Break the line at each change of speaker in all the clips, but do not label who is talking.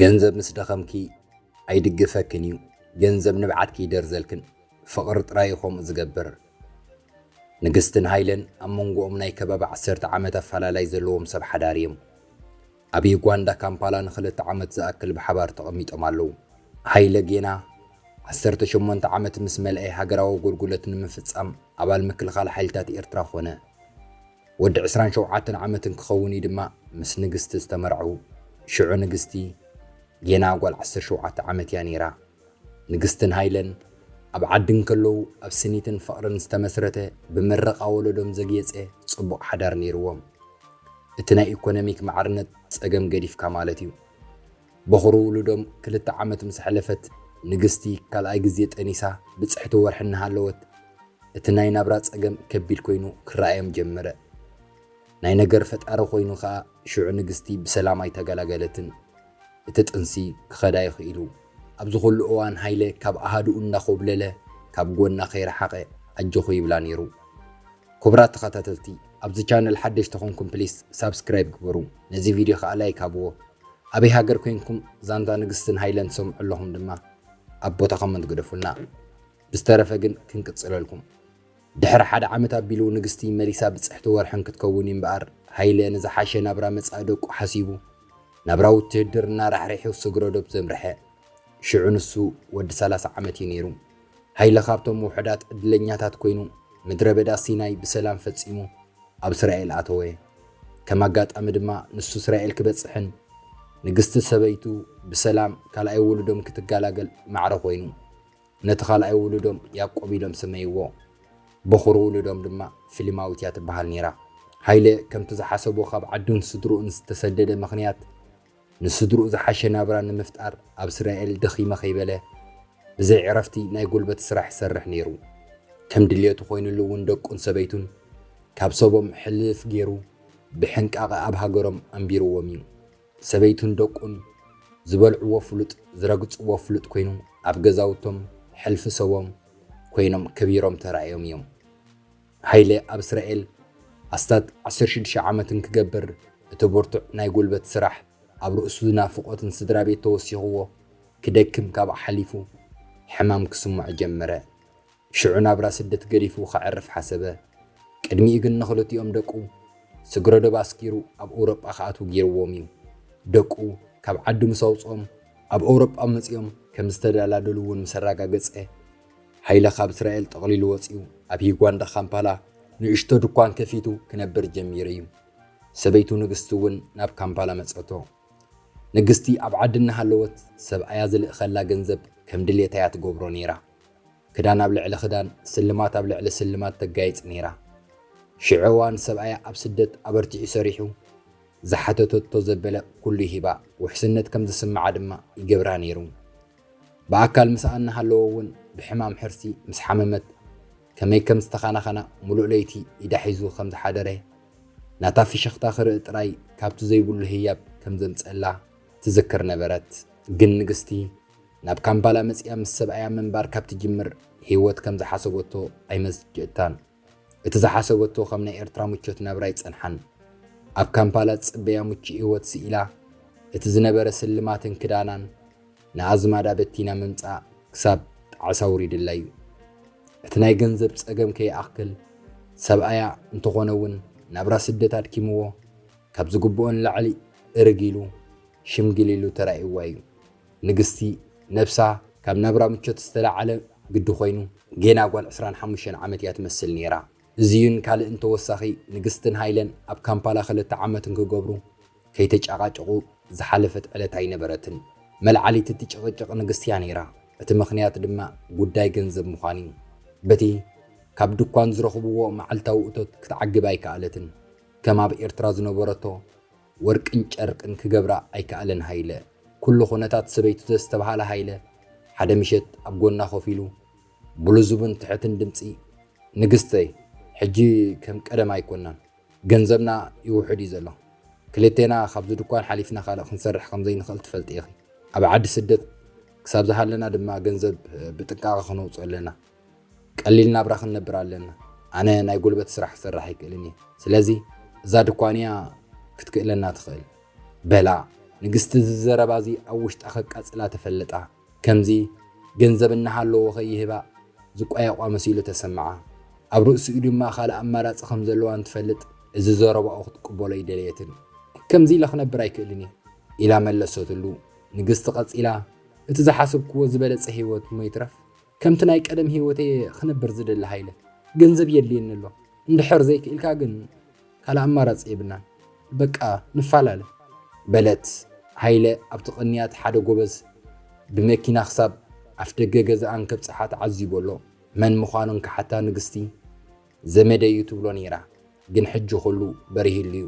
ገንዘብ ምስ ደኸምኪ ኣይድግፈክን እዩ ገንዘብ ንብዓትኪ ይደርዘልክን ፍቕሪ ጥራይ እዩ ከምኡ ዝገብር ንግስትን ሃይለን ኣብ መንጎኦም ናይ ከባቢ ዓሰርተ ዓመት ኣፈላላይ ዘለዎም ሰብ ሓዳር እዮም ኣብ ዩጋንዳ ካምፓላ ንኽልተ ዓመት ዝኣክል ብሓባር ተቐሚጦም ኣለዉ። ሃይለ ጌና ዓሰርተ ሸሞንተ ዓመት ምስ መልኤ ሃገራዊ ኣጎልጉለት ንምፍጻም ኣባል ምክልኻል ሓይልታት ኤርትራ ኮነ። ወዲ ዕስራን ሸውዓተን ዓመት እንክኸውን'ዩ ድማ ምስ ንግስቲ ዝተመርዐዉ። ሽዑ ንግስቲ ጌና ጓል ዓሰርተ ሸውዓተ ዓመት'ያ ነይራ። ንግስትን ሃይለን ኣብ ዓዲ እንከለዉ ኣብ ስኒትን ፍቕርን ዝተመስረተ ብምረቓ ወለዶም ዘግየፀ ፅቡቕ ሓዳር ነይርዎም። እቲ ናይ ኢኮኖሚክ ማዕርነት ፀገም ገዲፍካ ማለት እዩ። በኹሪ ውሉዶም ክልተ ዓመት ምስ ኣሕለፈት ንግስቲ ካልኣይ ግዜ ጠኒሳ ብፅሕቲ ወርሒ እናሃለወት እቲ ናይ ናብራ ፀገም ከቢድ ኮይኑ ክረኣዮም ጀመረ። ናይ ነገር ፈጣሪ ኮይኑ ከዓ ሽዑ ንግስቲ ብሰላም ኣይተገላገለትን። እቲ ጥንሲ ክኸዳ ይኽኢሉ። ኣብዚ ኩሉ እዋን ሃይለ ካብ ኣሃዱኡ እንዳኾብለለ ካብ ጎና ከይረሓቐ ኣጆኺ ይብላ ኔሩ። ኩብራት ተኸታተልቲ ኣብዚ ቻነል ሓደሽቲ ኮንኩም ፕሊስ ሳብስክራይብ ግበሩ ነዚ ቪድዮ ከኣ ላይክ ሃብዎ ኣበይ ሃገር ኮንኩም ዛንታ ንግስትን ሃይለን ትሰምዑ ኣለኹም ድማ ኣብ ቦታ ኮመንት ግደፉልና ብዝተረፈ ግን ክንቅጽለልኩም ድሕሪ ሓደ ዓመት ኣቢሉ ንግስቲ መሊሳ ብጽሕቲ ወርሕን ክትከውን እዩ'ምበኣር፣ ሃይለ ንዝሓሸ ናብራ መጻኢ ደቁ ሓሲቡ፣ ናብራ ውትህድርና ራሕሪሑ ስግረዶብ ዘምርሐ። ሽዑ ንሱ ወዲ ሰላሳ ዓመት እዩ ነይሩ። ሃይለ ካብቶም ውሑዳት ዕድለኛታት ኮይኑ፣ ምድረበዳ ሲናይ ብሰላም ፈጺሙ ኣብ እስራኤል ኣተወ። ከም ኣጋጣሚ ድማ ንሱ እስራኤል ክበጽሕን ንግስቲ ሰበይቱ ብሰላም ካልኣይ ውሉዶም ክትገላገል ማዕረ ኮይኑ። ነቲ ካልኣይ ውሉዶም ያቆብ ኢሎም ሰመይዎ። በዅሪ ውሉዶም ድማ ፍሊማዊት እያ ትበሃል ነይራ። ሃይለ ከምቲ ዝሓሰቦ ካብ ዓዱን ስድርኡን ዝተሰደደ ምኽንያት ንስድርኡ ዝሓሸ ናብራ ንምፍጣር ኣብ እስራኤል ደኺመ ከይበለ ብዘይ ዕረፍቲ ናይ ጉልበት ስራሕ ይሰርሕ ነይሩ። ከም ድልየቱ ኰይኑሉ እውን ደቁን ሰበይቱን ካብ ሰቦም ሕልፍ ገይሩ ብሕንቃቐ ኣብ ሃገሮም ኣንቢርዎም እዩ። ሰበይቱን ደቁን ዝበልዕዎ ፍሉጥ ዝረግጽዎ ፍሉጥ ኮይኑ ኣብ ገዛውቶም ሕልፊ ሰቦም ኮይኖም ከቢሮም ተራእዮም እዮም። ሃይለ ኣብ እስራኤል ኣስታት ዓሰርተ ሽዱሽተ ዓመት እንክገብር እቲ ብርቱዕ ናይ ጉልበት ስራሕ ኣብ ርእሱ ናፍቖትን ስድራቤት ተወሲኽዎ ክደክም ካብኡ ሓሊፉ ሕማም ክስምዖ ጀመረ። ሽዑ ናብራ ስደት ገዲፉ ከዕርፍ ሓሰበ። ቅድሚኡ ግን ንኽልቲኦም ደቁ ስግረዶብ ኣስጊሩ ኣብ ኦውሮጳ ክኣትዉ ገይርዎም እዩ። ደቁ ካብ ዓዱ ምስ ኣውጽኦም ኣብ ኦውሮጳ መጺኦም ከም ዝተደላደሉ እውን ምስ ኣረጋገጸ፣ ሃይለ ካብ እስራኤል ጠቕሊሉ ወጺኡ ኣብ ሂጓንዳ ካምፓላ ንእሽቶ ድኳን ከፊቱ ክነብር ጀሚሩ እዩ። ሰበይቱ ንግስቲ እውን ናብ ካምፓላ መጸቶ። ንግስቲ ኣብ ዓዲ እናሃለወት ሰብኣያ ዝልእኸላ ገንዘብ ከም ድሌታ እያ ትገብሮ ነይራ። ክዳን ኣብ ልዕሊ ክዳን፣ ስልማት ኣብ ልዕሊ ስልማት ተጋይጽ ነይራ። ሽዑ እዋን ሰብኣያ ኣብ ስደት ኣበርቲዑ ሰሪሑ፣ ዝሓተተቶ ዘበለ ኩሉ ሂባ ውሕስነት ከም ዝስምዓ ድማ ይገብራ ነይሩ። ብኣካል ምስኣ እናሃለወ እውን ብሕማም ሕርሲ ምስ ሓመመት ከመይ ከም ዝተኻናኸና ምሉእ ለይቲ ኢዳ ሒዙ ከም ዝሓደረ፣ ናታ ፍሽኽታ ክርኢ ጥራይ ካብቲ ዘይብሉ ህያብ ከም ዘምጽእላ ትዝክር ነበረት። ግን ንግስቲ፣ ናብ ካምፓላ መጺኣ ምስ ሰብኣያ ምንባር ካብ ትጅምር ህይወት ከም ዝሓሰበቶ ኣይመዝጀታን። እቲ ዝሓሰበቶ ከም ናይ ኤርትራ ምቾት ናብራ ኣይጸንሓን። ኣብ ካምፓላ ዝጽበያ ምቹእ ህይወት ስኢላ እቲ ዝነበረ ስልማትን ክዳናን ንኣዝማዳ በቲና ምምጻእ ክሳብ ጣዕሳ ኣውሪድላ'ዩ። እቲ ናይ ገንዘብ ጸገም ከይኣክል ሰብኣያ እንተኾነ እውን ናብራ ስደት ኣድኪምዎ ካብ ዝግብኦ ንላዕሊ እርግ ኢሉ ሽምግል ኢሉ ተራእይዋ'ዩ። ንግስቲ ነብሳ ካብ ናብራ ምቾት ዝተላዓለ ግዲ ኮይኑ ጌና ጓል ዕስራን ሓሙሽተን ዓመት እያ ትመስል ኔራ እዚዩን ካልእን ተወሳኺ ንግስትን ሃይለን ኣብ ካምፓላ ክልተ ዓመት እንክገብሩ ከይተጫቃጨቁ ዝሓለፈት ዕለት ኣይነበረትን መልዓሊት እቲ ጭቅጭቅ ንግስቲ እያ ኔራ እቲ ምኽንያት ድማ ጉዳይ ገንዘብ ምዃኑ እዩ በቲ ካብ ድኳን ዝረኽብዎ መዓልታዊ እቶት ክትዓግብ ኣይከኣለትን ከም ኣብ ኤርትራ ዝነበረቶ ወርቅን ጨርቅን ክገብራ ኣይከኣለን ሃይለ። ኩሉ ኩነታት ሰበይቱ ዘስተብሃለ ሃይለ፣ ሓደ ምሸት ኣብ ጎና ኮፍ ኢሉ፣ ብልዙብን ትሕትን ድምጺ፣ ንግስተይ፣ ሕጂ ከም ቀደም ኣይኮናን። ገንዘብና ይውሕድ እዩ ዘሎ። ክልቴና ካብዚ ድኳን ሓሊፍና ካልእ ክንሰርሕ ከም ዘይንኽእል ትፈልጢ ኢኺ። ኣብ ዓዲ ስደት ክሳብ ዝሃለና ድማ ገንዘብ ብጥንቃቐ ክነውጽኦ ኣለና። ቀሊል ናብራ ክንነብር ኣለና ኣነ ናይ ጉልበት ስራሕ ክሰርሕ ኣይክእልን እየ ስለዚ እዛ ድኳን እያ ክትክእለና ትኽእል በላ ንግስቲ እዚ ዘረባ እዚ ኣብ ውሽጣ ከቃጽላ ተፈለጣ ከምዚ ገንዘብ እናሃለዎ ከይህባ ዝቋየቋ መሲሉ ተሰምዓ ኣብ ርእሲኡ ድማ ካልእ ኣማራጺ ከም ዘለዋ እንትፈልጥ እዚ ዘረባኡ ክትቅበሎ ኣይደለየትን ከምዚ ኢለ ክነብር ኣይክእልን እየ ኢላ መለሰትሉ ንግስቲ ቀጺላ እቲ ዝሓሰብክዎ ዝበለጸ ህይወት እሞ ይትረፍ ከምቲ ናይ ቀደም ህይወተይ ክነብር ዝደሊ ሃይለ፣ ገንዘብ የድልየኒ ኣሎ፣ እንድሕር ዘይክኢልካ ግን ካልእ ኣማራጺ የብልናን፣ በቃ ንፋላለ። በለት ሃይለ ኣብቲ ቅንያት ሓደ ጎበዝ ብመኪና ክሳብ ኣፍደገ ገዝኣ እንከብጽሓ ተዓዚቡ ኣሎ። መን ምዃኑ እንክሓታ ንግስቲ፣ ዘመደይ'ዩ ትብሎ ነይራ፣ ግን ሕጂ ኩሉ በሪህሉ'ዩ።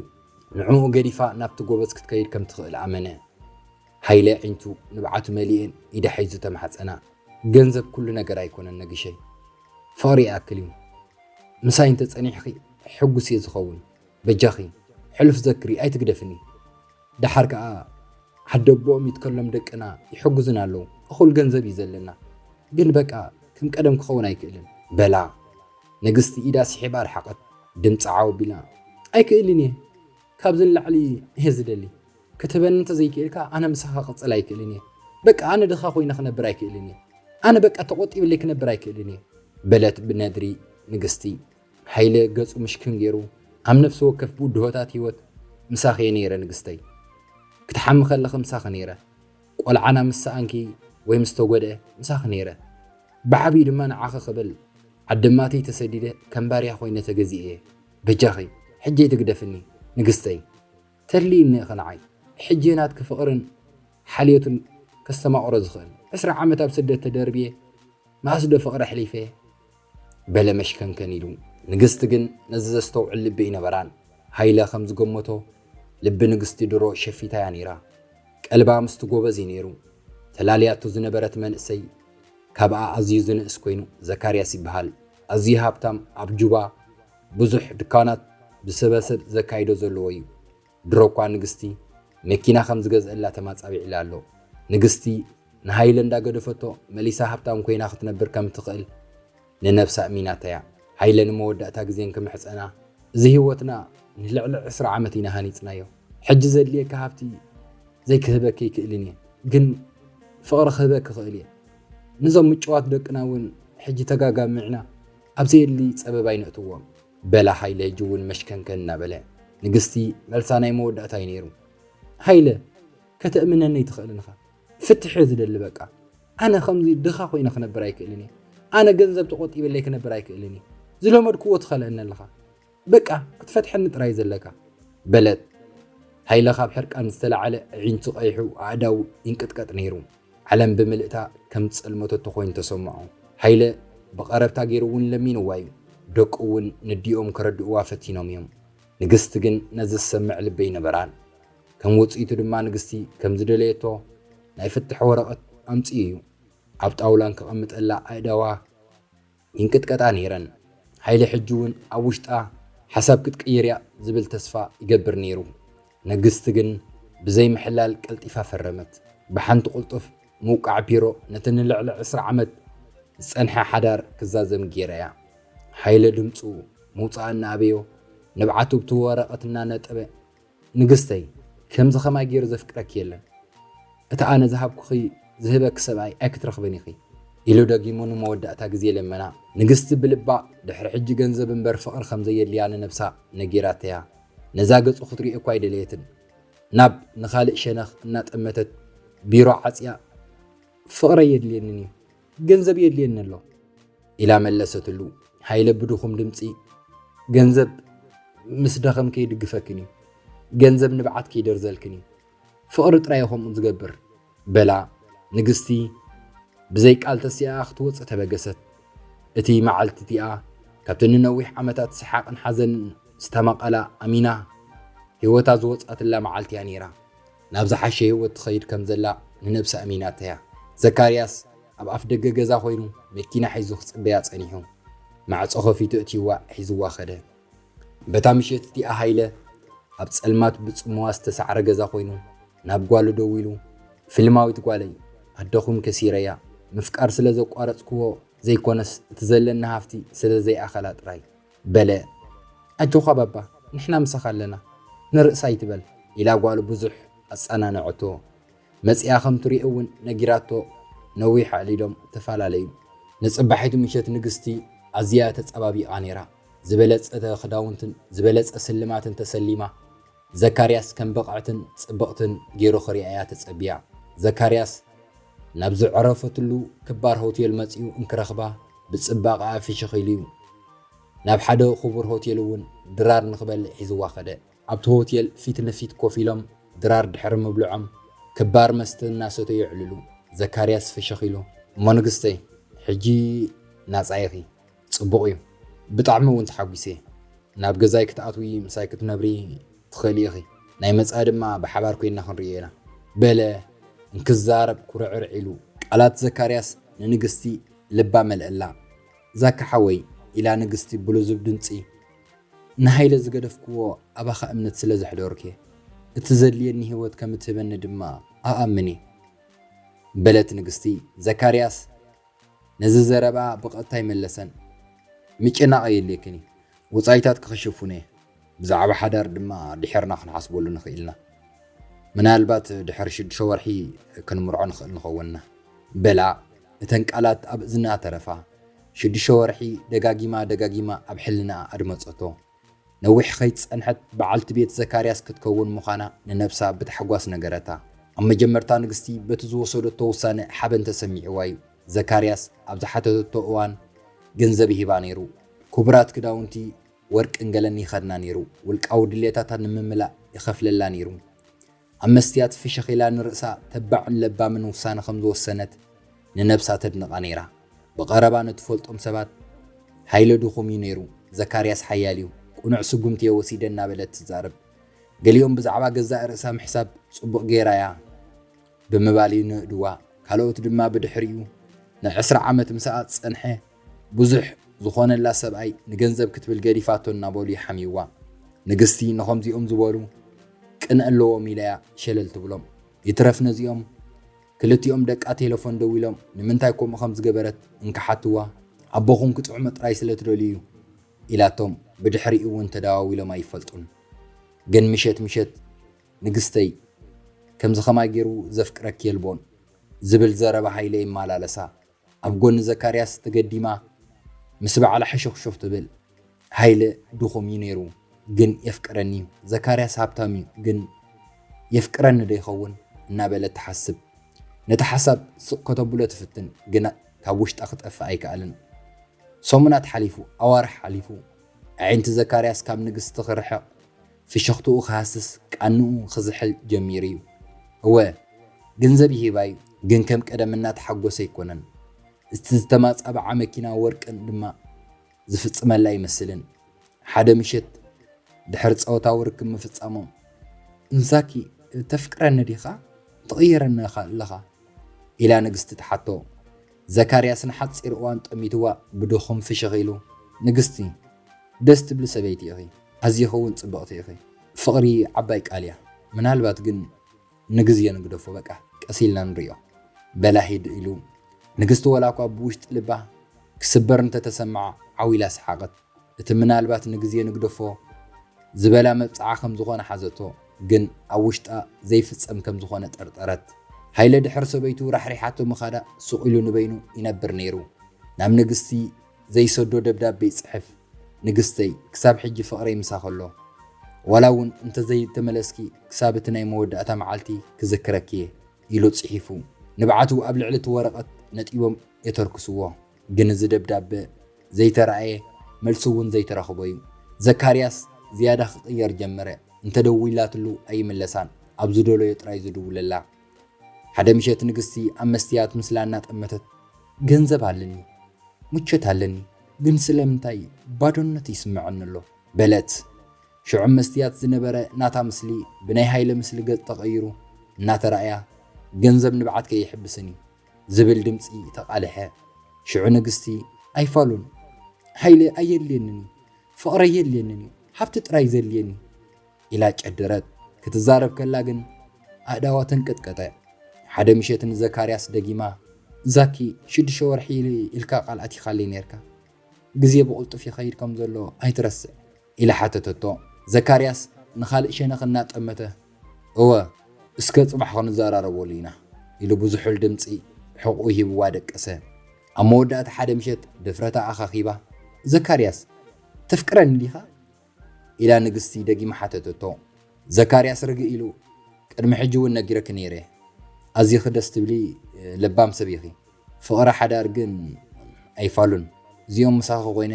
ንዕኡ ገዲፋ ናብቲ ጎበዝ ክትከይድ ከም ትኽእል ኣመነ። ሃይለ ኣዒንቱ ንብዓቱ መሊኤን ኢዳ ሒዙ ተማሕጸና። ገንዘብ ኩሉ ነገር ኣይኮነን ነግሸይ። ፍቕሪ ይኣክል እዩ። ምሳይ እንተ ጸኒሕኺ ሕጉስ እየ ዝኸውን። በጃኺ ሕሉፍ ዘክሪ ኣይትግደፍኒ። ደሓር ከኣ ዓደቦኦም ይትከሎም ደቅና ይሕጉዙና ኣለዉ። እኹል ገንዘብ እዩ ዘለና። ግን በቃ ከም ቀደም ክኸውን ኣይክእልን። በላ። ንግስቲ ኢዳ ስሒባ ኣርሓቐት። ድምጻ ዓው ኣቢላ ኣይክእልን እየ። ካብዚ ንላዕሊ እየ ዝደሊ። ክትህበኒ እንተዘይክኢልካ ኣነ ምሳኻ ክቕጽል ኣይክእልን እየ። በቃ ኣነ ድኻ ኮይነ ክነብር ኣይክእልን እየ። ኣነ በቃ ተቖጢብለይ ክነብር ኣይክእልን እየ። በለት ብነድሪ ንግስቲ። ሃይለ ገጹ ምሽክን ገይሩ፣ ኣብ ነፍሲ ወከፍ ብድሆታት ህይወት ምሳኺ እየ ነይረ ንግስተይ። ክትሓሚ ከለኺ ምሳኺ ነይረ። ቆልዓና ምስ ሰኣንኪ ወይ ምስ ተጎድኤ ምሳኺ ነይረ። ብዓቢኡ ድማ ንዓኺ ክብል ዓደማተይ ተሰዲደ ከም ባርያ ኮይነ ተገዚኤ እየ። በጃኺ ሕጂ ኣይትግደፍኒ ንግስተይ። ተድልይ እኒኢኺ ንዓይ ሕጄ ናትኪ ፍቕርን ሓልዮትን ከስተማቕሮ ዝኽእል ዕስራ ዓመት ኣብ ስደት ተደርብየ መኣስ ዶ ፍቕሪ ኣሕሊፈ በለ መሽከንከን ኢሉ። ንግስቲ ግን ነዚ ዘስተውዕል ልቢ ኣይነበራን። ሃይለ ከም ዝገመቶ ልቢ ንግስቲ ድሮ ሸፊታ እያ ነይራ። ቀልባ ምስቲ ጎበዝ እዩ ነይሩ። ተላልያቶ ዝነበረት መንእሰይ ካብኣ ኣዝዩ ዝንእስ ኮይኑ ዘካርያስ ይበሃል። ኣዝዩ ሃብታም ኣብ ጁባ። ብዙሕ ድካናት ብስበ ሰብ ዘካይዶ ዘለዎ እዩ ድሮ እኳ ንግስቲ መኪና ከም ዝገዝእላ ተማጻቢዕላ ኣሎ ንግስቲ ንሃይለ እንዳ ገደፈቶ መሊሳ ሃብታም ኮይና ክትነብር ከም እትክእል ንነብሳ እሚናታያ ሃይለ ንመወዳእታ ግዜ እንክምሕጸና እዚ ሂወትና ንልዕሊ ዕስራ ዓመት ኢና ሃኒጽናዮ ሕጂ ዘድልየኪ ሃብቲ ዘይክህበኪ ኣይክእልን እየ ግን ፍቅሪ ክህበኪ እክእል እየ ንዞም ምጭዋት ደቅና እውን ሕጂ ተጋጋሚዕና ኣብ ዘየድሊ ፀበባ ኣይነእትዎም በላ ሃይለ ሕጂ እውን መሽከንከን እናበለ። ንግስቲ መልሳ ናይ መወዳእታ እዩ ነይሩ። ሃይለ ከተእምነኒ ኣይትኽእልን ኢኻ ፍትሕ እየ ዝደሊ በቃ ኣነ ከምዚ ድኻ ኮይነ ክነብር ኣይክእልን እየ ኣነ ገንዘብ ተቆጢበለይ ክነብር ኣይክእልን እየ ዝለመድክዎ ትኸልአኒ ኣለኻ በቃ ክትፈትሐኒ ጥራይ ዘለካ። በለት ሃይለ ካብ ሕርቃን ዝተላዓለ ኣዒንቱ ቀይሑ ኣእዳዉ ይንቅጥቀጥ ነይሩ ዓለም ብምልእታ ከም ዝጸልመተቶ ኮይኑ ተሰምዖ ሃይለ ብቀረብታ ገይሩ ዉን ለሚንዋ ዩ ደቁ ዉን ነዲኦም ከረድእዋ ፈቲኖም ዮም ንግስቲ ግን ነዚ ዝሰምዕ ልቢ ኣይነበራን ከም ዉጽኢቱ ድማ ንግስቲ ከም ዝደለየቶ ናይ ፍትሕ ወረቀት ኣምጺኡ ዩ ኣብ ጣዉላ ንከቀምጠላ ኣእዳዋ ይንቅጥቀጣ ነይረን። ሃይለ ሕጂ እውን ኣብ ውሽጣ ሓሳብ ክትቅይር እያ ዝብል ተስፋ ይገብር ነይሩ። ነግስት ግን ብዘይ ምሕላል ቀልጢፋ ፈረመት። ብሓንቲ ቁልጡፍ ምውቃዕ ፒሮ ነቲ ንልዕሊ ዕስራ ዓመት ዝጸንሐ ሓዳር ክዛዘም ገይራያ። ሃይለ ድምጹ ምውጻእ እናኣበዮ ንብዓቱ ብቲ ወረቐት እናነጠበ ንግስተይ ከምዚ ከማይ ጌሩ ዘፍቅረኪ የለን እቲ ኣነ ዝሃብኩኺ ዝህበኪ ሰብኣይ ኣይክትረኽብን ኢኺ ኢሉ ደጊሙ ንመወዳእታ ግዜ ለመና ንግስቲ ብልባ ድሕሪ ሕጂ ገንዘብ እምበር ፍቅሪ ከም ዘየድልያ ንነብሳ ነጊራተያ ነዛ ገጹ ክትሪኦ እኳ ኣይደለየትን ናብ ንኻልእ ሸነኽ እናጠመተት ቢሮ ዓጽያ ፍቅረይ የድልየንን እዩ ገንዘብ የድልየኒ ኣሎ ኢላ መለሰትሉ። ሃይለ ብድኹም ድምፂ ገንዘብ ምስ ደኸም ከይድግፈክን እዩ፣ ገንዘብ ንብዓት ከይደርዘልክን እዩ፣ ፍቕሪ ጥራይ ከምኡ ዝገብር በላ። ንግስቲ ብዘይ ቃል ተሲኣ ክትወፅእ ተበገሰት። እቲ መዓልቲ እቲኣ ካብቲ ንነዊሕ ዓመታት ሰሓቕን ሓዘንን ዝተማቐላ ኣሚና ህይወታ ዝወፅኣትላ መዓልቲ እያ ነይራ። ናብ ዝሓሸ ህይወት ትኸይድ ከም ዘላ ንነብሳ ኣሚናታ'ያ። ዘካርያስ ኣብ ኣፍደገ ገዛ ኰይኑ መኪና ሒዙ ክጽበያ ጸኒሑ፣ ማዕጾ ከፊቱ ኣእትዩዋ ሒዙዋ ከደ። በታ ምሸት እቲኣ ሃይለ ኣብ ጸልማት ብጽምዋ ዝተሳዕረ ገዛ ኰይኑ ናብ ጓሉ ደዊሉ፣ ፍልማዊት ጓለይ፣ ኣደኹም ከሲረያ፣ ምፍቃር ስለ ዘቋረጽኩዎ ዘይኰነስ እቲ ዘለኒ ሃፍቲ ስለ ዘይኣኸላ ጥራይ። በለ ኣጆዃ ባባ ንሕና ምሳኻ ኣለና ንርእስ ኣይትበል ኢላ ጓሉ ብዙሕ ኣጻናነዐቶ መጺኣ ከም ትሪኦ ውን ነጊራቶ ነዊሕ ኣዕሊሎም ተፋላለዩ ንጽባሒቱ ምሸት ንግስቲ ኣዝያ ተጻባቢቃ ኔራ ዝበለጸተ ክዳውንትን ዝበለጸ ስልማትን ተሰሊማ ዘካርያስ ከም ብቕዕትን ጽብቕትን ገይሩ ክርእያ'ያ ተጸብያ። ዘካርያስ ናብ ዝዕረፈትሉ ክባር ሆቴል መጺኡ እንክረኽባ ብጽባቐኣ ፍሽኽ ኢሉ'ዩ። ናብ ሓደ ክቡር ሆቴል'ውን ድራር ንኽበልዕ ሒዝዋ ከደ። ኣብቲ ሆቴል ፊት ንፊት ኮፍ ኢሎም ድራር ድሕሪ ምብልዖም ክባር መስተ እናሰተዩ የዕልሉ። ዘካርያስ ፍሽኽ ኢሉ እሞ ንግስተይ ሕጂ ናጻ ኢኺ። ጽቡቕ እዩ ብጣዕሚ ውን ተሓጒሰ ናብ ገዛይ ክትኣትዊ ምሳይ ክትነብሪ ትኽእሊ ኢኺ ናይ መጻኢ ድማ ብሓባር ኮይንና ክንርእዮ ኢና በለ እንክዛረብ ኩርዕርዕ ኢሉ ቃላት ዘካርያስ ንንግስቲ ልባ መልኣላ ዛኪ ሓወይ ኢላ ንግስቲ ብልዙብ ድምጺ ንሃይለ ዝገደፍክዎ ኣባኻ እምነት ስለ ዘሕደርኩየ እቲ ዘድልየኒ ሂወት ከምትህበኒ ድማ እኣምን እየ በለት ንግስቲ ዘካርያስ ነዚ ዘረባ ብቐጥታ ኣይመለሰን። ምጭናቕ ኣየድልየክን እዩ። ወጻኢታት ክኽሽፉን እየ። ብዛዕባ ሓዳር ድማ ድሒርና ክንሓስበሉ ንኽእል ኢና። ምናልባት ድሕሪ ሽዱሽተ ወርሒ ክንምርዖ ንኽእል ንኸውን ኢና። በላ እተን ቃላት ኣብ እዝና ተረፋ። ሽዱሽተ ወርሒ ደጋጊማ ደጋጊማ ኣብ ሕልናኣ ኣድመጸቶ። ነዊሕ ኸይጸንሐት ብዓልቲ ቤት ዘካርያስ ክትከውን ምዃና ንነብሳ ብታሕጓስ ነገረታ። ኣብ መጀመርታ ንግስቲ በቲ ዝወሰደቶ ውሳነ ሓበን ተሰሚዕዋ እዩ። ዘካርያስ ኣብ ዝሓተተቶ እዋን ገንዘብ ይህባ ነይሩ፣ ክቡራት ክዳውንቲ ወርቅን ገለን ይኸድና ነይሩ፣ ውልቃዊ ድሌታታ ንምምላእ ይኸፍለላ ነይሩ። ኣብ መስትያት ፍሽኽ ኢላ ንርእሳ ተባዕን ለባምን ውሳነ ከም ዝወሰነት ንነብሳ ተድንቓ ነይራ። ብቐረባ ንትፈልጦም ሰባት ሃይለ ድኹም እዩ ነይሩ፣ ዘካርያስ ሓያል እዩ፣ ቅኑዕ ስጉምቲ እየ ወሲደ እናበለት ትዛረብ። ገሊኦም ብዛዕባ ገዛእ ርእሳ ምሕሳብ ጽቡቕ ገይራ እያ ብምባል ይንእድዋ፣ ካልኦት ድማ ብድሕሪኡ ንዕስራ ዓመት ምስኣ ዝጸንሐ ብዙሕ ዝኾነላ ሰብኣይ ንገንዘብ ክትብል ገዲፋቶ እናበሉ ይሓምዩዋ። ንግስቲ ንኸምዚኦም ዝበሉ ቅንኢ ኣለዎም ኢላ እያ ሸለል ትብሎም። ይትረፍ ነዚኦም ክልቲኦም ደቃ ቴለፎን ደዊሎም ንምንታይ ከምኡ ከም ዝገበረት እንክሓቱዋ ኣቦኹም ክጥዕሞ ጥራይ ስለ ትደልዩ እዩ ኢላቶም ብድሕሪኡ እውን ተደዋዊሎም ኣይፈልጡን። ግን ምሸት ምሸት ንግስተይ ከምዚ ከማይ ገይሩ ዘፍቅረኪ የልቦን ዝብል ዘረባ ሃይለ ይመላለሳ። ኣብ ጎኒ ዘካርያስ ተገዲማ ምስ ባዕላ ሕሹኽሹኽ ትብል። ሃይለ ድኹም እዩ ነይሩ ግን የፍቅረኒ እዩ፣ ዘካርያስ ሃብታም እዩ ግን የፍቅረኒ ዶ ይኸውን እናበለት ትሓስብ። ነቲ ሓሳብ ስቕ ከተብሎ ትፍትን ግና ካብ ውሽጣ ክጠፍእ ኣይከኣለን። ሰሙናት ሓሊፉ፣ ኣዋርሕ ሓሊፉ፣ ኣዒንቲ ዘካርያስ ካብ ንግስቲ ክርሕቕ፣ ፍሽኽትኡ ክሃስስ ቃንኡ ክዝሕል ጀሚሩ'ዩ። እወ ገንዘብ ይሂባ'ዩ ግን ከም ቀደም እናተሓጎሰ ኣይኮነን። እቲ ዝተማጻብዓ መኪና ወርቅን ድማ ዝፍጽመላ ኣይመስልን። ሓደ ምሸት ድሕሪ ጸወታዊ ርክብ ምፍጻሞም። እምሳኪ ተፍቅረኒ ዲኻ ትቕይረኒ ኣለኻ? ኢላ ንግስቲ ትሓቶ። ዘካርያስ ንሓጺር እዋን ጠሚትዋ ብድኹም ፍሽኽ ኢሉ፣ ንግስቲ፣ ደስ ትብሊ ሰበይቲ ኢኺ፣ ኣዚኺ'ውን ጽብቕቲ ኢኺ። ፍቕሪ ዓባይ ቃል እያ፣ ምናልባት ግን ንግዜ ንግደፎ፣ በቃ ቀስ ኢልና ንርእዮ። በላ ሂድ ኢሉ። ንግስቲ ወላ'ኳ ብውሽጢ ልባ ክስበር እንተ ተሰምዓ ዓው ኢላ ሰሓቐት። እቲ ምናልባት ንግዜ ንግደፎ ዝበላ መብጽዓ ከም ዝኾነ ሓዘቶ፣ ግን ኣብ ውሽጣ ዘይፍጸም ከም ዝኾነ ጠርጠረት። ሃይለ ድሕር ሰበይቱ ራሕሪሓቶ ምኻዳ ሱቕ ኢሉ ንበይኑ ይነብር ነይሩ። ናብ ንግስቲ ዘይሰዶ ደብዳቤ ይጽሕፍ፣ ንግስተይ ክሳብ ሕጂ ፍቕረይ ምሳኺ ኣሎ። ዋላ እውን እንተዘይተመለስኪ ክሳብ እቲ ናይ መወዳእታ መዓልቲ ክዝክረኪ'የ ኢሉ ጽሒፉ። ንብዓቱ ኣብ ልዕሊ እቲ ወረቐት ነጢቦም የተርክስዎ። ግን እዚ ደብዳበ ዘይተራእየ መልሲ እውን ዘይተረኽቦ እዩ። ዘካርያስ ዝያዳ ክቕየር ጀመረ። እንተደዊላትሉ ኣይምለሳን፣ ኣብ ዝደለዮ ጥራይ ዝድውለላ። ሓደ ምሸት ንግስቲ ኣብ መስትያት ምስላ እናጠመተት። ገንዘብ ኣለኒ፣ ምቾት ኣለኒ፣ ግን ስለምንታይ ባዶነት ይስመዐኒ ኣሎ? በለት። ሽዑ መስትያት ዝነበረ ናታ ምስሊ ብናይ ሃይለ ምስሊ ገፅ ተቐይሩ እናተራእያ፣ ገንዘብ ንብዓት ከይሕብስን እዩ። ዝብል ድምጺ ተቓልሐ። ሽዑ ንግስቲ፣ ኣይፋሉን! ሓይሊ ኣየድልየንን እዩ፣ ፍቕሪ ኣየድልየንን እዩ፣ ሃብቲ ጥራይ እዩ ዘድልየኒ! ኢላ ጨደረት። ክትዛረብ ከላ ግን ኣእዳዋ ተንቀጥቀጠ። ሓደ ምሸት ንዘካርያስ ደጊማ፣ ዛኪ፣ ሽዱሽተ ወርሒ ኢልካ ቃል ኣቲኻለይ ኔርካ። ግዜ ብቕልጡፍ ይኸይድ ከም ዘሎ ኣይትረስዕ። ኢላ ሓተተቶ። ዘካርያስ ንኻልእ ሸነኽ እናጠመተ፣ እወ፣ እስከ ጽባሕ ክንዘራረበሉ ኢና፣ ኢሉ ብዝሑል ድምጺ ሕቖኡ ሂብዋ ደቀሰ። ኣብ መወዳእታ ሓደ ምሸት ድፍረታ ኣኻኺባ፣ ዘካርያስ፣ ተፍቅረኒ ዲኻ? ኢላ ንግስቲ ደጊማ ሓተተቶ። ዘካርያስ ርግእ ኢሉ፣ ቅድሚ ሕጂ እውን ነጊረኪ ነይረ፣ ኣዚኺ ደስ ትብሊ ለባም ሰብ ኢኺ፣ ፍቕሪ ሓዳር ግን ኣይፋሉን፣ እዚኦም ምሳኺ ኮይነ፣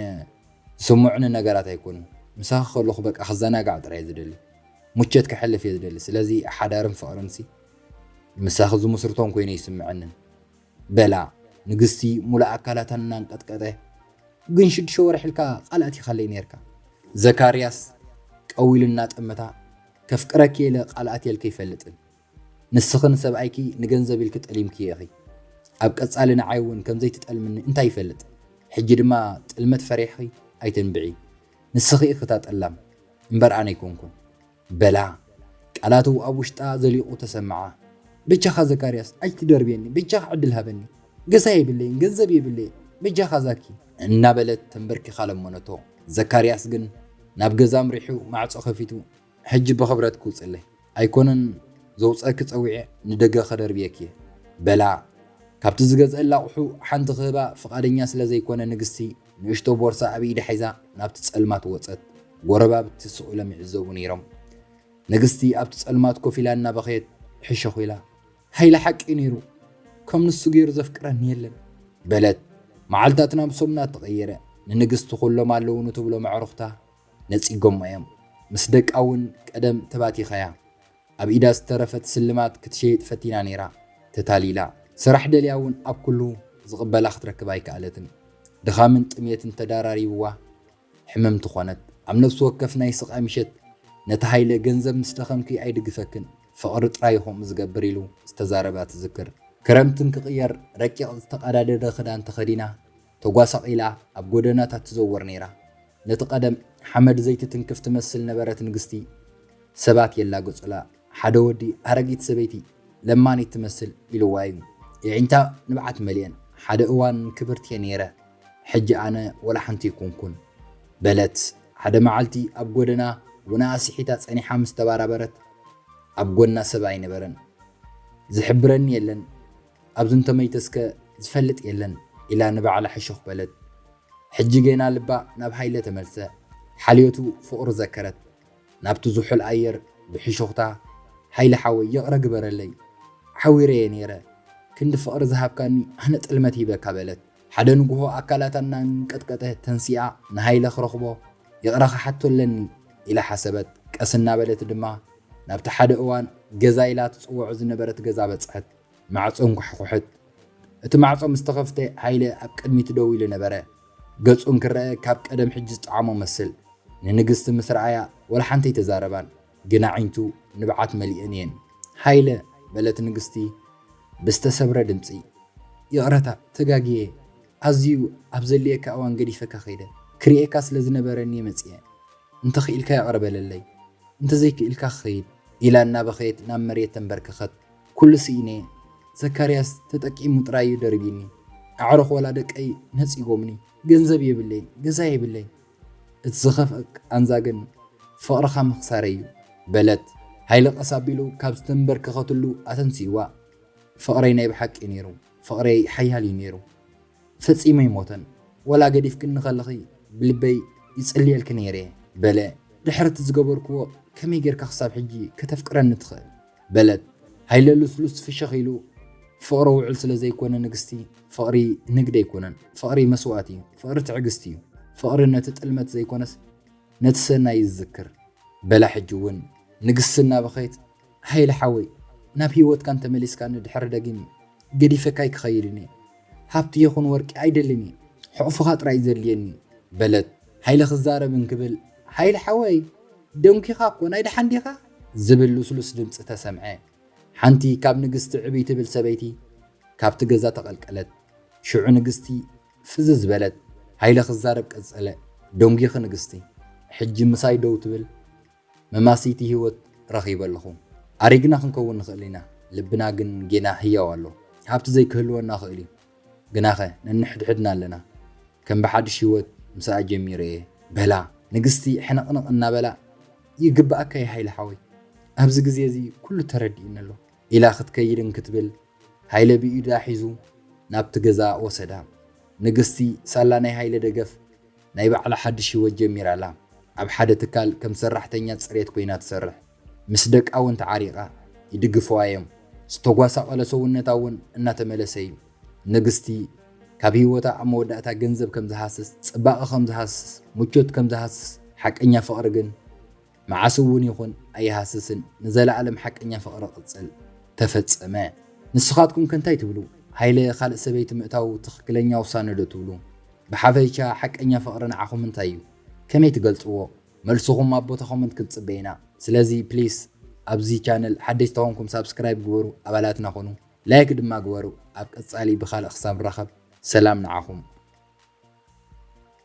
ዝስምዑኒ ነገራት ኣይኮኑን ምሳኺ ከለኹ በቃ ክዘናጋዕ ጥራይ እየ ዝደሊ ሙቸት ከሕልፍ እየ ዝደሊ ስለዚ ሓዳርን ፍቅርንሲ ምሳኺ ዝምስርቶን ኮይኑ ኣይስምዐንን በላ ንግስቲ ሙሉእ ኣካላታ እናንቀጥቀጠ ግን ሽዱሽተ ወርሒ ኢልካ ቃል ኣቲኻለይ ነርካ ዘካርያስ ቀው ኢሉ እናጠመታ ከፍቅረኪ እየ ኢለ ቃል ኣትየልኪ ኣይፈልጥን ንስኺ ንሰብኣይኪ ንገንዘብ ኢልኪ ጠሊምክዮ ኢኺ። ኣብ ቀጻሊ ንዓይ እውን ከም ዘይትጠልምኒ እንታይ ይፈልጥ። ሕጂ ድማ ጥልመት ፈሪሕኺ ኣይተንብዒ። ንስኺ ኢኺ እታ ጠላም እምበር ኣነ ኣይኮንኩን። በላ። ቃላቱ ኣብ ውሽጣ ዘሊቑ ተሰምዓ። በጃኻ ዘካርያስ ኣይትደርብየኒ፣ በጃኻ ዕድል ሃበኒ። ገዛ የብለይን፣ ገንዘብ የብለይን፣ በጃኻ ዛኪ። እናበለት ተንበርኪኻ ለመነቶ። ዘካርያስ ግን ናብ ገዛ ኣምሪሑ ማዕጾ ከፊቱ ሕጂ ብኽብረት ክውጽለይ ኣይኮነን ዘውጸኪ ጸዊዐ ንደገ ከደርብየኪ እየ በላ ካብቲ ዝገዝእላ ኣቑሑ ሓንቲ ክህባ ፍቓደኛ ስለ ዘይኮነ ንግስቲ ንእሽቶ ቦርሳ ኣብ ኢዳ ሒዛ ናብቲ ጸልማት ወጸት ጎረባብቲ ስቕ ኢሎም ይዕዘቡ ነይሮም ንግስቲ ኣብቲ ጸልማት ኮፍ ኢላ እናበኸየት ሕሸኹ ኢላ ሃይለ ሓቂ ነይሩ ከም ንሱ ገይሩ ዘፍቅረኒ የለን በለት መዓልታትና ብሰሙናት ተቐየረ ንንግስቲ ኩሎም ኣለውኑ ትብሎም ኣዕሩኽታ ነጺጎማ እዮም ምስ ደቃ ውን ቀደም ተባቲኻያ ኣብ ኢዳ ዝተረፈት ስልማት ክትሸይጥ ፈቲና ኔራ ተታሊላ ስራሕ ደልያ ውን ኣብ ኩሉ ዝቅበላ ክትረክብ ኣይከኣለትን ድኻምን ጥምየትን ተዳራሪብዋ ሕምምቲ ኮነት ኣብ ነብሲ ወከፍ ናይ ስቃይ ምሸት ነቲ ሃይለ ገንዘብ ምስ ደኸምኪ ኣይድግፈክን ፍቅሪ ጥራይ እዩ ከምኡ ዝገብር ኢሉ ዝተዛረባ ትዝክር ክረምትን ክቅየር ረቂቅ ዝተቀዳደደ ክዳን ተኸዲና ተጓሳቒላ ኣብ ጎደናታት ትዘወር ነይራ። ነቲ ቀደም ሓመድ ዘይትትንክፍ ትመስል ነበረት ንግስቲ፣ ሰባት የላግጹላ። ሓደ ወዲ ኣረጊት ሰበይቲ ለማኒት ትመስል ኢልዋ እዩ። የዒንታ ንብዓት መልኤን። ሓደ እዋን ክብርቲ እየ ነይረ፣ ሕጂ ኣነ ወላ ሓንቲ ኣይኮንኩን። በለት። ሓደ መዓልቲ ኣብ ጎደና ውናኣ ስሒታ ጸኒሓ ምስ ተባራበረት፣ ኣብ ጎና ሰብ ኣይነበረን። ዝሕብረኒ የለን። ኣብዚ እንተመይተስከ ዝፈልጥ የለን ኢላ ንባዕላ ሕሹኽ በለት። ሕጂ ጌና ልባ ናብ ሃይለ ተመልሰ። ሓልዮቱ ፍቕሩ ዘከረት። ናብቲ ዝሑል ኣየር ብሕሹኽታ፣ ሃይለ ሓወይ ይቕረ ግበረለይ። ሓዊረ'የ ነይረ። ክንዲ ፍቕሪ ዝሃብካኒ ኣነ ጥልመት ሂበካ በለት። ሓደ ንጉሆ ኣካላታ እናንቀጥቀጠ ተንሲኣ ንሃይለ ክረኽቦ ይቕረ ክሓቶ ኣለኒ ኢላ ሓሰበት። ቀስ እናበለት ድማ ናብቲ ሓደ እዋን ገዛይ ኢላ ትጽውዖ ዝነበረት ገዛ በጽሐት። ማዕጾ ኣንኳሕኩሐት። እቲ ማዕጾ ምስ ተኸፍተ ሃይለ ኣብ ቅድሚት ደው ኢሉ ነበረ። ገጹ እንክረኣ ካብ ቀደም ሕጂ ዝጠዓሞ መስል። ንንግስቲ ምስ ረኣያ ወላ ሓንቲ ኣይተዛረባን፣ ግን ኣዒንቱ ንብዓት መሊኤን እየን። ሃይለ! በለት ንግስቲ ብዝተሰብረ ድምጺ። ይቕረታ ተጋግየ፣ ኣዝዩ ኣብ ዘድልየካ እዋን ገዲፈካ ከይደ። ክርእየካ ስለ ዝነበረኒ እየ መጺኤ። እንተ ክኢልካ ይቕረ በለለይ፣ እንተ ዘይክኢልካ ክኸይድ። ኢላ እናበኸየት ናብ መሬት ተንበርከኸት። ኩሉ ስኢነ'የ ዘካርያስ ተጠቂሙ ጥራይ'ዩ ደርብዩኒ ኣዕሩኽ ወላ ደቀይ ነጺጎምኒ ገንዘብ የብለይን ገዛ የብለይን እቲ ዝኸፍኣ ቃንዛ ግን ፍቕርኻ ምኽሳረይ'ዩ በለት ሃይለ ቀስ ኣቢሉ ካብ ዝተንበርከኸትሉ ኣተንሲእዋ ፍቕረይ ናይ ብሓቂ'ዩ ኔሩ ፍቕረይ ሓያል'ዩ ኔሩ ፈጺሙ ኣይሞተን፣ ዋላ ገዲፍክኒ ከለኺ ብልበይ ይጽልየልኪ ነይረ በለ፣ ድሕሪ እቲ ዝገበርክዎ ከመይ ጌርካ ክሳብ ሕጂ ከተፍቅረኒ ትኽእል? በለት ሃይለ ልስሉስ ፍሽኽ ኢሉ፣ ፍቕሪ ውዑል ስለ ዘይኮነ ንግስቲ፣ ፍቕሪ ንግድ ኣይኮነን፣ ፍቕሪ መስዋእቲ እዩ፣ ፍቕሪ ትዕግስቲ እዩ፣ ፍቕሪ ነቲ ጥልመት ዘይኮነስ ነቲ ሰናይ እዩ ዝዝክር በላ ሕጂ እውን ንግስቲ እናበኸየት፣ ሃይለ ሓወይ ናብ ሂወትካ እንተ መሊስካኒ ድሕሪ ደጊም ገዲፈካ ኣይክኸይድን እየ ሃብቲ ይኹን ወርቂ ኣይደልን እየ ሕቕፍኻ ጥራይ እዩ ዘድልየኒ በለት ሃይለ ክዛረብ እንክብል ሃይለ ሓወይ ደንኪኻ እኮ ናይ ደሓን ዲኻ ዝብል ሉስሉስ ድምጺ ተሰምዐ ሓንቲ ካብ ንግስቲ ዕብይ ትብል ሰበይቲ ካብቲ ገዛ ተቐልቀለት ሽዑ ንግስቲ ፍዝዝ በለት ሃይለ ክዛረብ ቀጸለ ደንጊኺ ንግስቲ ሕጂ ምሳይ ደው ትብል መማስይቲ ህይወት ረኺበ ኣለኹ። ኣሪግና ክንከውን ንኽእል ኢና፣ ልብና ግን ጌና ህያው ኣሎ። ሃብቲ ዘይክህልወና ይኽእል እዩ፣ ግናኸ ነንሕድሕድና ኣለና። ከም ብሓድሽ ህይወት ምስኣ ጀሚረ እየ። በላ ንግስቲ ሕንቕንቕ እናበላ። ይግብኣካ እዩ ሃይለ ሓወይ፣ ኣብዚ ግዜ እዚ ኩሉ ተረዲኡኒ ኣሎ። ኢላ ክትከይድ እንክትብል ሃይለ ብኢዳ ሒዙ ናብቲ ገዛ ወሰዳ። ንግስቲ ሳላ ናይ ሃይለ ደገፍ። ናይ ባዕላ ሓድሽ ህይወት ጀሚራ ኣላ። ኣብ ሓደ ትካል ከም ሰራሕተኛ ጽሬት ኰይና ትሰርሕ። ምስ ደቃ እውን ተዓሪቓ። ይድግፍዋ እዮም። ዝተጓሳቘለ ሰውነታ እውን እናተመለሰ እዩ። ንግስቲ፣ ካብ ህይወታ ኣብ መወዳእታ ገንዘብ ከም ዝሃስስ፣ ጽባቐ ከም ዝሃስስ፣ ምቾት ከም ዝሃስስ፣ ሓቀኛ ፍቕሪ ግን፣ መዓስ እውን ይኹን ኣይሃስስን ንዘለኣለም ሓቀኛ ፍቅሪ ቅጽል። ተፈጸመ። ንስኻትኩም ከ እንታይ ትብሉ? ሃይለ ካልእ ሰበይቲ ምእታዉ ትኽክለኛ ውሳነ ዶ ትብሉ? ብሓፈይቻ ሓቀኛ ፍቅሪ ንዓኹም እንታይ እዩ? ከመይ ትገልጽዎ? መልስኹም ኣብ ቦታ ኮመንት ክንጽበ ኢና። ስለዚ ፕሊስ ኣብዚ ቻነል ሓደሽ ተኾንኩም ሳብስክራይብ ግበሩ ኣባላትና ኩኑ። ላይክ ድማ ግበሩ። ኣብ ቀጻሊ ብኻልእ ክሳብ ንራኸብ ሰላም ንዓኹም።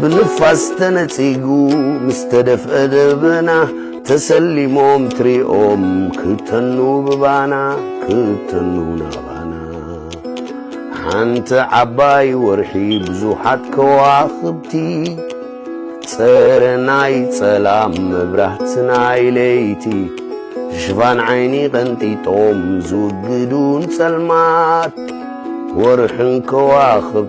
ብንፋስ ተነጺጉ ምስ ተደፍአ ደበና ተሰሊሞም ትሪኦም ክተኑ ብባና ክተኑ ናባና ሓንቲ ዓባይ ወርሒ ብዙሓት ከዋኽብቲ ጸረ ናይ ጸላም መብራህቲ ናይ ለይቲ ሽፋን ዓይኒ ቀንጢጦም ዝውግዱን ጸልማት ወርሕን ከዋኽብ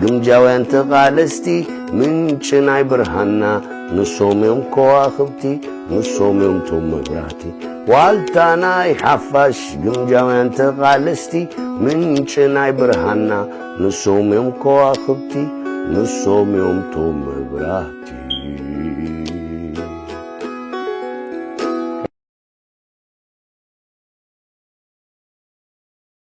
ግምጃውያን ተቓለስቲ ምንጪ ናይ ብርሃንና ንሶም እዮም ከዋኽብቲ ንሶም እዮም ቶም መብራህቲ ዋልታ ናይ ሓፋሽ ግምጃውያን ተቓለስቲ ምንጪ ናይ ብርሃንና ንሶም እዮም ከዋኽብቲ ንሶም እዮም ቶም መብራህቲ